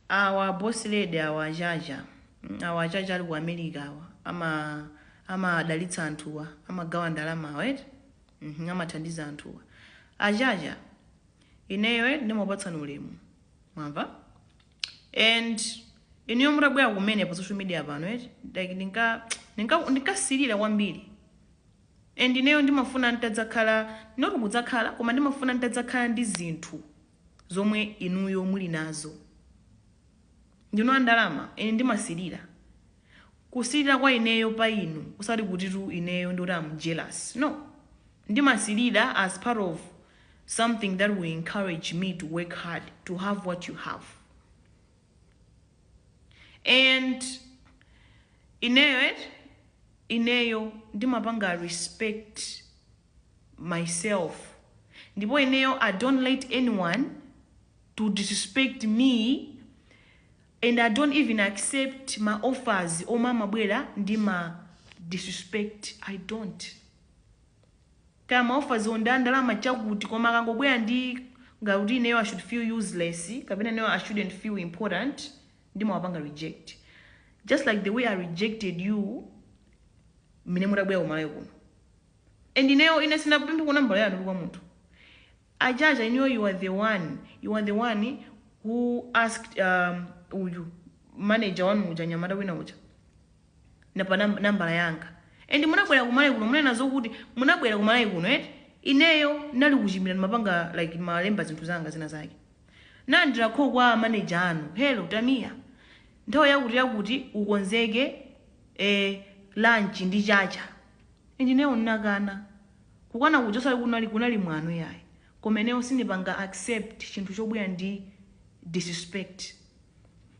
Awa a boss lady awa achacha mm awa achacha ali ku America awa ama amawadalitsa anthuwa amagawa ndalama awa eti mmh amathandiza anthuwa achacha ineyo eti ndimakupatsani ulemu mwamva and inuyo mutabwera kumene pa social media pano eti like ndinka ndinka ndinkasilira kwambiri and ineyo ndimafuna ntadzakhala not kudzakhala koma ndimafuna ntadzakhala ndi zinthu zomwe inuyo muli nazo. Ndinu a ndalama, ine ndimasilira. Kusilira kwa ineyo pa inu osati kutitu ineyo ndoti am jealous, no. Ndimasilira as part of something that will encourage me to work hard to have what you have. And ineyo eti, ineyo ndimapanga respect. myself ndipo ineyo I don't let anyone to disrespect me and I don't even accept ma offers omwe amabwera ndi ma disrespect I don't kaya ma offers wo ndi a ndalama chakuti koma akangobwera ndi ngati kuti ineyo I should feel useless kapena ineyo I shouldn't feel important ndimawapanga reject just like the way I rejected you mmene mutabwera ku Malawi kuno And ineyo ine sinapempheko nambala yanu kwa munthu achacha inuyo you are the one you are the one who asked um, uyu manager wanu uja mnyamata wina uja na pa nam- nambala yanga and munabwera ku Malawi kuno munena zokuti munabwera ku Malawi kuno eti ineyo nali kuchimira ndimapanga like ndimalemba zinthu zanga zina zake nnalandira call kwa manager anu hello Tamia nthawi yakuti yakuti ukonzeke eh, lunch ndi chacha And ineyo nnakana, kukana kuja osati kunali kunali mwano yayi koma ineyo sindipanga accept chinthu chobwera ndi disrespect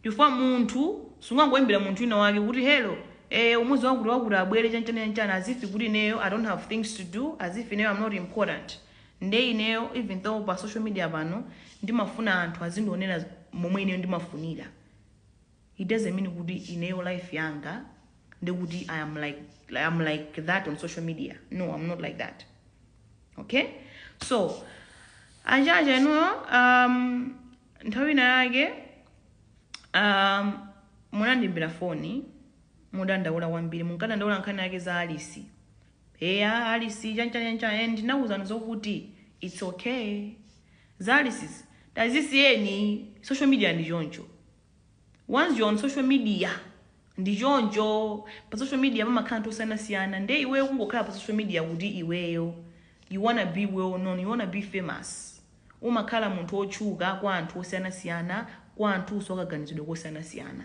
chifukwa munthu sungangoimbira munthu wina wake kuti hello ee umuuze wakuti wakuti abwere chanchani chanchani as if kuti ineyo I don't have things to do as if ineyo I'm not important nde ineyo even though pa social media pano ndimafuna anthu azindionera momwe ineyo ndimafunira it doesn't mean kuti ineyo life yanga ndekuti I am like, I am like that on social media no I'm not like that okay so achacha inuyo um, nthawi ina yake um, munandiimbira foni mudandaula kwambiri munkadandaula nkhani yake za Alice eya Alice chanchanyancha and ndinakuuzani zokuti it's okay za Alice tazisiyeni social media ndi choncho once you're on social media ndi choncho pa social media pamakhala anthu osiyanasiyana nde iweyo kungokhala pa social media kuti iweyo you wanna be well known you wanna be famous umakhala munthu otchuka kwa anthu osiyanasiyana kwa anthunso akaganizidwe kosiyanasiyana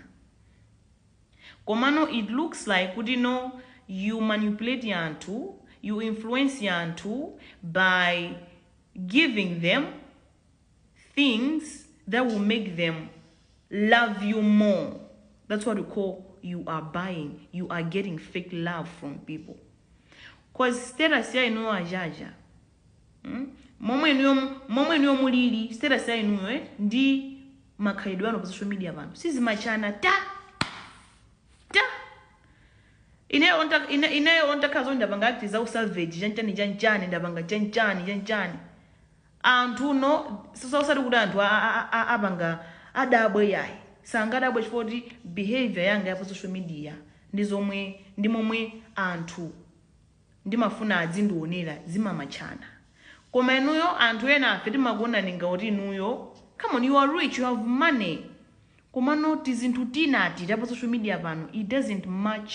komano it looks like kuti no you manipulate anthu you influence anthu by giving them things that will make them love you more that's what we call you are buying you are getting fake love from people cause status ya inuyo achacha hmm? momwe inuyo momwe inuyo mulili status ya inuyo eh? ndi makhalidwe anu pa social media pano sizimatchana ta ta ineyo onta- ine- ineyo ontakhazo ndapanga acti za usavage chanchani chanchani ndapanga chanchani chanchani anthu nonso osati kuti anthu a- a- a- a- apanga adabwe yayi sangadabwe chifukwa kuti behavior yanga ya pa social media ndi zomwe ndi momwe anthu ndimafuna adzindionera zimamatchana koma inuyo anthu ena afe timakuonani ngati inuyo come on you are rich you have money komano tizinthu tinati ta pa social media pano it doesn't match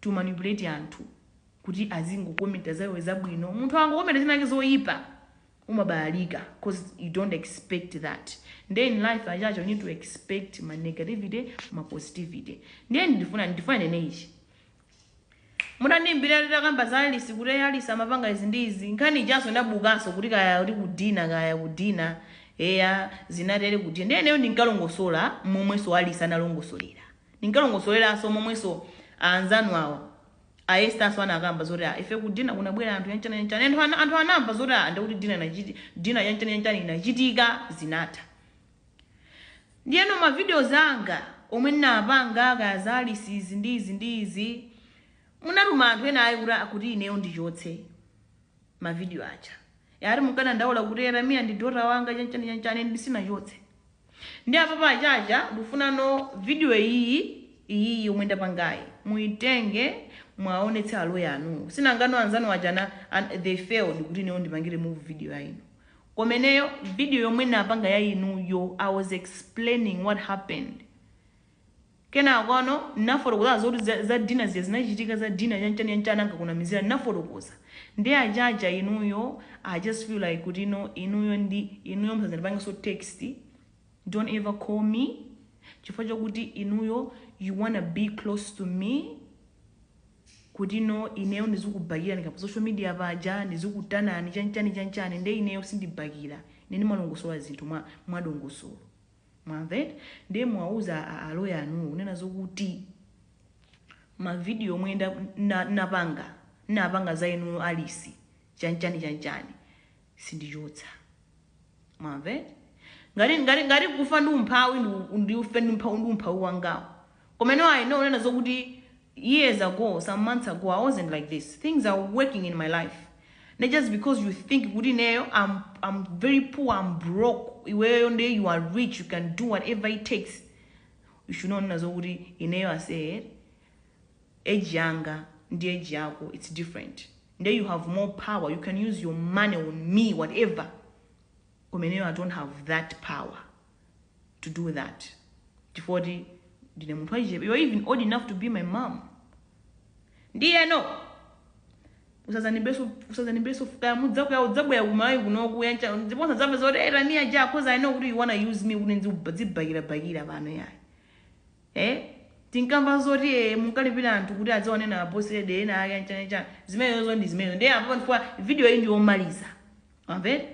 to manipulate anthu kuti azingokomenta za iwe zabwino. Munthu akangokomenta chinachake zoipa umabalalika cause you don't expect that. Ndiye in life achacha you need to expect ma negativity ma positivity. Ndiye ndifuna ndifuna ndinene ichi munandiimbira titakamba za Alice kuti eyi Alice amapanga izi ndi izi nkhani ijanso ndapanganso kuti kaya kuti ku dinner kaya ku dinner eya zinatere ku dinner ndiye ineyo ndinkalongosola momwenso Alice analongosolera Ndinkalongosoleranso momwenso a anzanu awa, a Esther-nso anakamba zoti ah, ife ku dinner kunabwera anthu chanchani chanchani and anthu anthu anamva zoti ah, ndekuti dinner inachiti, dinner chanchani chanchani inachitika, zinatha. Ndiyeno ma videos anga omwe ndinapanga kaya za Alice izi ndi izi ndi izi, munatuma anthu ena ayi kuti ah, kuti ineyo ndichotse ma video aja. Ati munkadandaula kuti Yeremia ndi daughter wanga chanchani chanchani, and sindinachotse. Ndiye apapa achacha ndikufuna no video iyiyi iyiyi yomwe ndapangayi muitenge muwaonetse a lawyer anuwo si nanganu anzanu aja ana, an, they failed kuti ineyo ndipange remove video ya inu koma ineyo video yomwe ndapanga ya inuyo I was explaining what happened Kenako ano, ndinafotokoza ah, zoti za, za dinner zija zinachitika, za dinner chanchani chanchani ankakunamizirani, ndinafotokoza. Ndiye achacha inuyo, I just feel like kuti no, inuyo ndi, inuyo musadzandipangenso text, don't ever call me, chifukwa chokuti inuyo you wanna be close to me, kuti no, ineyo ndizikubakirani kaya pa social media paja, ndizikutanani chanchani chanchani, nde ineyo sindibakira, ine ndimalongosola zinthu mwa, mwa dongosolo. mwamva eti ndiye muwauza a- a lawyer anuwo kunena zokuti mavidiyo omwe nda- na- napanga napanga za inuyo alisi chanchani chanchani sindichotsa mwamva eti ngati ngati kufa ndi umphawi ndi- ndife ndi umpha- ndi umphawi wangawo Koma inu ayi no kunena zokuti years ago some months ago I wasn't like this things are working in my life nde just because you think kuti ineyo I'm, I'm very poor I'm broke iweyo nde you are rich you can do whatever it takes you should not kunena zokuti ineyo I said age yanga ndi age yako it's different nde you have more power you can use your money on me whatever koma ineyo I don't have that power to do that chifukwa kuti ndine munthu wachichepe you're even old enough to be my mom ndiyeno usadzanibeso usadzanibeso kaya mudzakhuya mudzabwera kumalawi kunoku kaya chani ndipo musadzakambe zoti hey, rania ja cause i know kuti you wanna use me kuti ndzibhakirabhakira pano yayi eh tinkamva zoti eh, munkalipira anthu kuti adziwanena aposede ena ake chanichani zimenezo ndi zimenezo ndiye apa pamenepa video iyi ndiyomaliza amve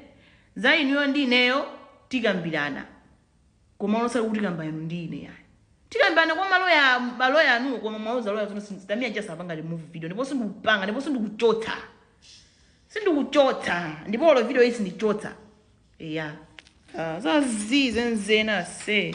za inuyo ndi ineyo tikambirana koma osati kutikamba inu ndi ine yayi tikambirana kwa maloya maloya anu koma muwauze loya zoti sindamia just sapanga remove video ndipo sindikupanga ndipo sindikuchotsa sindikuchotsa ndipo olo video iyi sindichotsa eya Ah, zazii zenizeni se